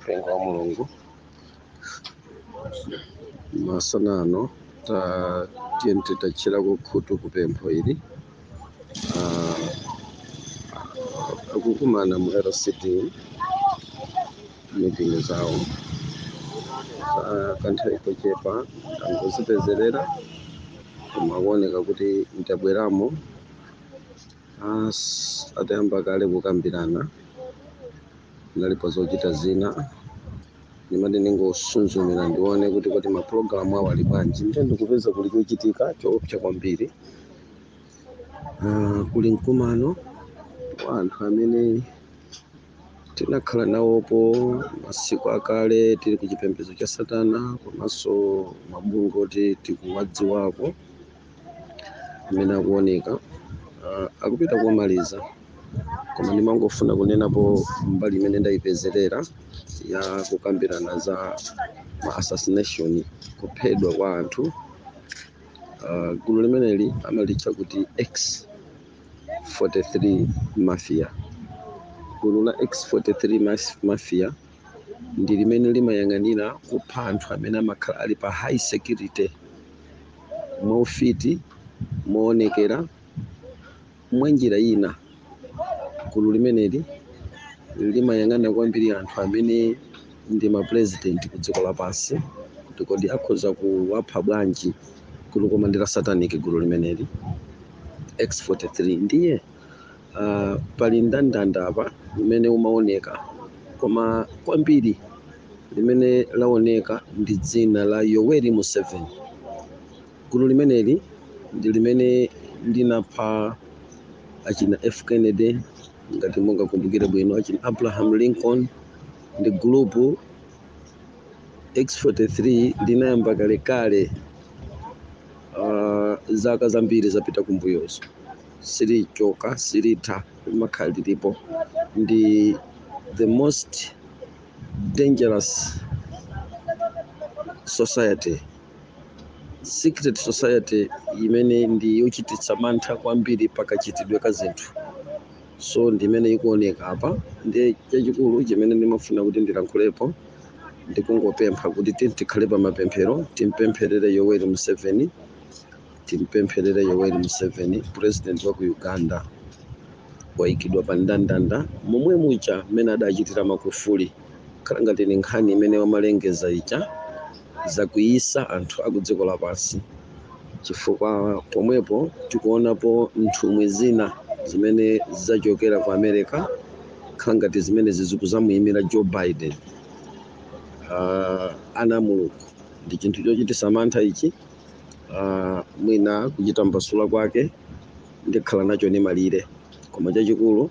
mpingo wa mulungu masana ano ta tiyeni titatchera khutu kupempho ili ah, akukumana mu LCD mitingi zawo Ah, kanthawi kochepa angozipezerera koma akuoneka kuti ndabweramo Ah, s- atayamba kale kukambirana ndinali pa zochita zina ndimati ndingosuzumira ndione kuti kuti mapulogalamu awo ali bwanji ndiye ndikupeza kuli chochitika choopsa kwambiri Ah, kuli mkumano wa anthu amene tinakhala nawopo masiku akale tili ku chipembedzo cha satana komanso mabungwe oti tikuwadziwako amene akuoneka ah, akupita kumaliza koma ndimangofuna kunenapo mbali imene ndayipezerera ya kukambirana za ma assassination kuphedwa kwa anthu uh, gulu limeneli amalitcha kuti x43 mafia gulu la x43 mas- mafia ndi limene limayang'anira kupha anthu amene amakhala ali pa high security mwaufiti moonekera Mwanjira ina, gulu limeneli limayang'ana kwambiri anthu amene ndi mapulezidenti kudziko lapansi kuti kodi akhoza kuwapha bwanji. Gululo koma ndi la satanic gulu limeneli. X43, Ndiye ah, pali ndandanda apa umene umaoneka koma kwambiri limene laoneka ndi dzina la Yoweri Museveni. Gulu limeneli ndi limene linapha achina F. Kennedy, ngati mungakumbukire bwino, achina Abraham Lincoln ndi gulupu X-43 linayamba kalekale ah, zaka zambiri zapita kumbuyozo silichoka silitha limakhala lilipo ndi the most dangerous society secret society imene ndi yochititsa mantha kwambiri pa kachitidwe ka zinthu so ndi imene ikuoneka apa ndi chachikulu chimene ndimafuna kuti ndilankhulepo ndikungopempha kuti tiyeni tikhale pa mapemphero timpempherere yoweri museveni timpempherere yoweri museveni president wa ku uganda wayikidwa pa ndandanda momwe muja mmene adachitira Magufuli khala ngati ndi nkhani imene wamalengeza ija zakwiyisa anthu a ku dziko lapansi chifukwa pomwepo tikuonapo nthumwi zina zimene zachokera ku america khala ngati zimene zikuzamuyimira joe biden uh, ana a mulungu ndi chinthu chochititsa mantha ichi uh, mwina kuchita mbasula kwake ndikhala nacho ndi malire koma chachikulu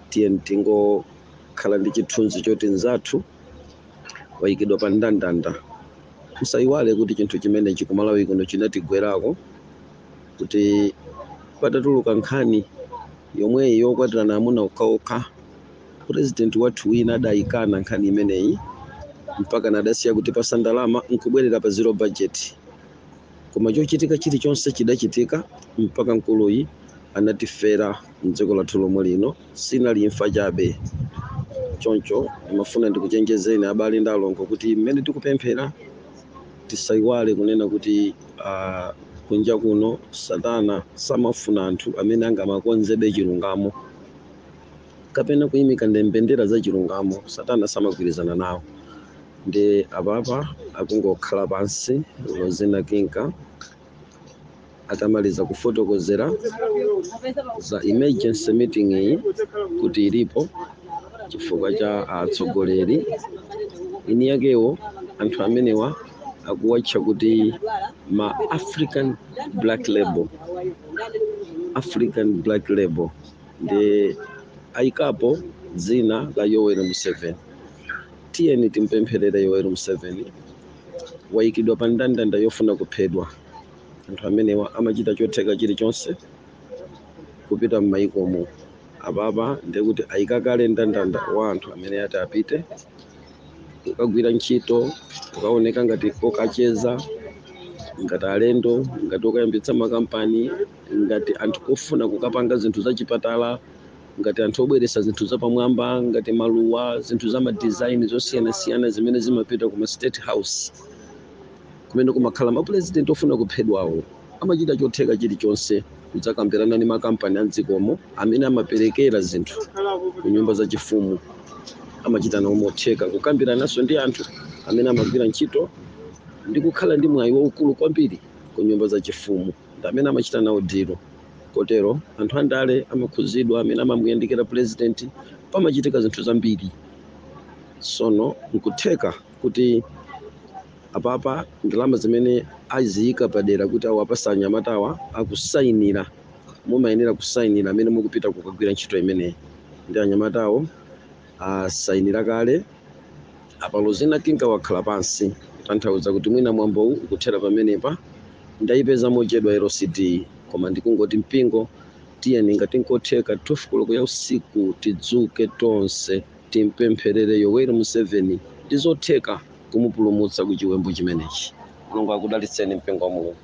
tiye tingo khala ndi chithunzi choti mnzathu wayikidwa pa ndandanda musayiwale kuti chinthu chimenechi ku malawi kuno chinatigwerako kuti patatuluka nkhani yomweyi yokwatirana amuna okhaokha purezidenti wathu wina adayikana nkhani imeneyi mpaka nadasiya kutipatsa ndalama nkubwerera pa zero budget koma chochitika chilichonse chidachitika mpaka mkuluyi anatifera mdziko lathu lomwe lino sinali imfa chabe choncho ndimafuna ndikuchenjezeni abale ndi alongo kuti mmene tikupemphera tisayiwale kunena kuti ah, kunja kuno satana samafuna anthu amene angamakonzebe chilungamo kapena kuyimika mbendera za chilungamo satana samagwirizana nawo ndiye apapa akungokhala pansi lozina kinka atamaliza kufotokozera za emergency meeting iyi kuti ilipo chifukwa cha atsogoleri ini yakewo anthu amenewa akuwatcha kuti ma african black label african black label ndiye ayikapo dzina la yoweri museveni tiyeni timpempherere yoweri museveni wayikidwa pa ndandanda yofuna kuphedwa anthu amenewa amachita chotheka chilichonse kupita m'mayikomo apapa ndiye kuti ayika kale ndandanda wa anthu amene ati apite kukagwira ntchito kukaoneka ngati okacheza ngati alendo ngati okayambitsa makampani ngati anthu ofuna kukapanga zinthu zachipatala ngati anthu obweretsa zinthu zapamwamba ngati maluwa zinthu za madizaini zosiyanasiyana zimene zimapita kuma state house kumene kumakhala mapulezidenti ofuna kuphedwawo amachita chotheka chilichonse kudzakambirana ndi makampani a mdzikomo amene amaperekera zinthu ku nyumba zachifumu amachita nawo motheka kukambirananso ndi anthu amene amagwira ntchito ndi kukhala ndi mwayi waukulu kwambiri ku nyumba zachifumu ndi amene amachita nawo dilo kotero anthu andale amakhuzidwa amene amamuyandikira pulezidenti pamachitika zinthu zambiri sono nkutheka kuti apapa ndalama zimene aziyika padera kuti awapatsa anyamatawa akusayinira mumayenera kusayinira amene mukupita kukagwira ntchito imeneyi ndi anyamatawo asayinira kale apalo zinakinga wakhala pansi kutanthauza kuti mwina mwambowu ukuthera pamenepa ndayipeza mochedwa lcd koma ndikungoti mpingo tiyeni ngati nkotheka 12 koloko ya usiku tidzuke tonse Timpempherere Yoweri Museveni, ndizotheka kumupulumutsa ku chiwembu chimenechi. Mulungu akudalitseni mpingo wa Mulungu.